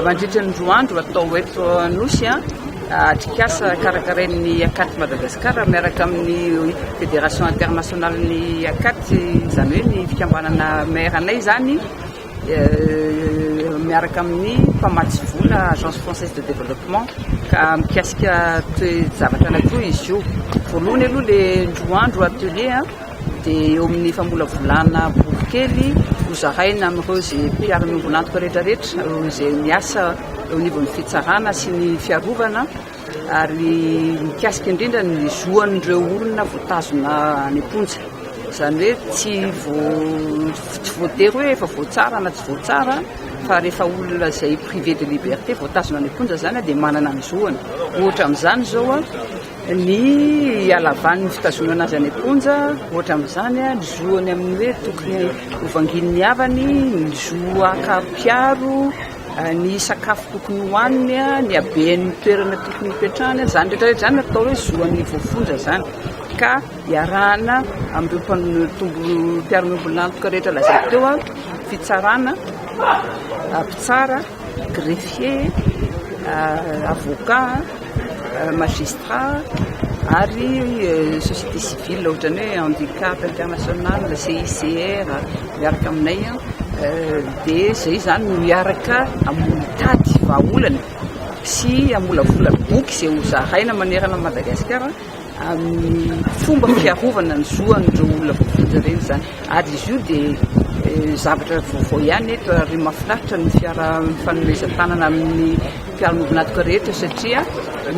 Mandritra ny roa andro atao eto Anosy atrikasa karakarain'ny Acat Madagascar miaraka amin'ny Fédération internationale ny Acat izany hoe ny fikambanana maire anay izany miaraka amin'ny mpamatsy vola Agence Française de Développement ka mikasika toe-javatra anankiroa izy io. Voalohany aloha le roa andro atelier dia eo amin'ny famolavolana boky kely hozaraina amin'ireo izay mpiaro ny ombilantoka rehetrarehetra, ireo izay miasa eo anivon'ny fitsarana sy ny fiarovana ary mikasika indrindra ny zoan'ireo olona voatazona any am-ponja. Izany hoe tsy voatery hoe efa voatsara na tsy voatsara fa rehefa olona izay privé de liberté voatazona any am-ponja izany dia manana ny zoany. Ohatra amin'izany izao Ny halavan'ny fitazonana azy any am-ponja, ohatra amin'izany, ny zoany amin'ny hoe tokony hovangian'ny havany, ny zo haka mpiaro, ny sakafo tokony hohaniny, ny haben'ny toerana tokony hipetrahany, izany rehetra rehetra izany atao hoe zoan'ny voafonja izany ka iarahana amin'ireo mpiaron'ombilantoka rehetra lazaiko teo, fitsarana, mpitsara. Greffier, avocat, magistrat ary société civile ohatran'ny hoe handicap international, CICR miaraka aminay dia izay izany no miaraka mitady vahaolana sy hamolavola boky izay hozaraina manerana an'i Madagasikara. amin'ny fomba fiarovana ny zo an'ireo olona voafonja ireny izany. Ary izy io dia eh, zavatra vaovao ihany eto ary mahafinaritra ny fiaraha-mifanomezan-tanana amin'ny mpiara-miombon'antoka rehetra satria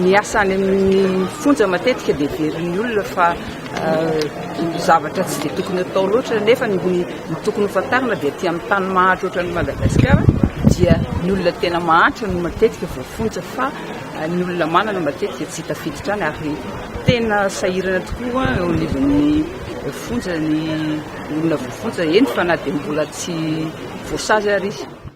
ny asa any amin'ny fonja matetika dia verin'ny olona fa eh, zavatra tsy dia tokony atao loatra nefa ny ny tokony ho fantarina dia aty amin'ny tany mahantra ohatran'ny Madagasikara dia ny olona tena mahantra no matetika voafonja fa Ny olona manana matetika dia tsy tafiditra any ary tena sahirana tokoa eo anivon'ny fonja ny olona voafonja, eny fa na dia mbola tsy voasazy ary izy.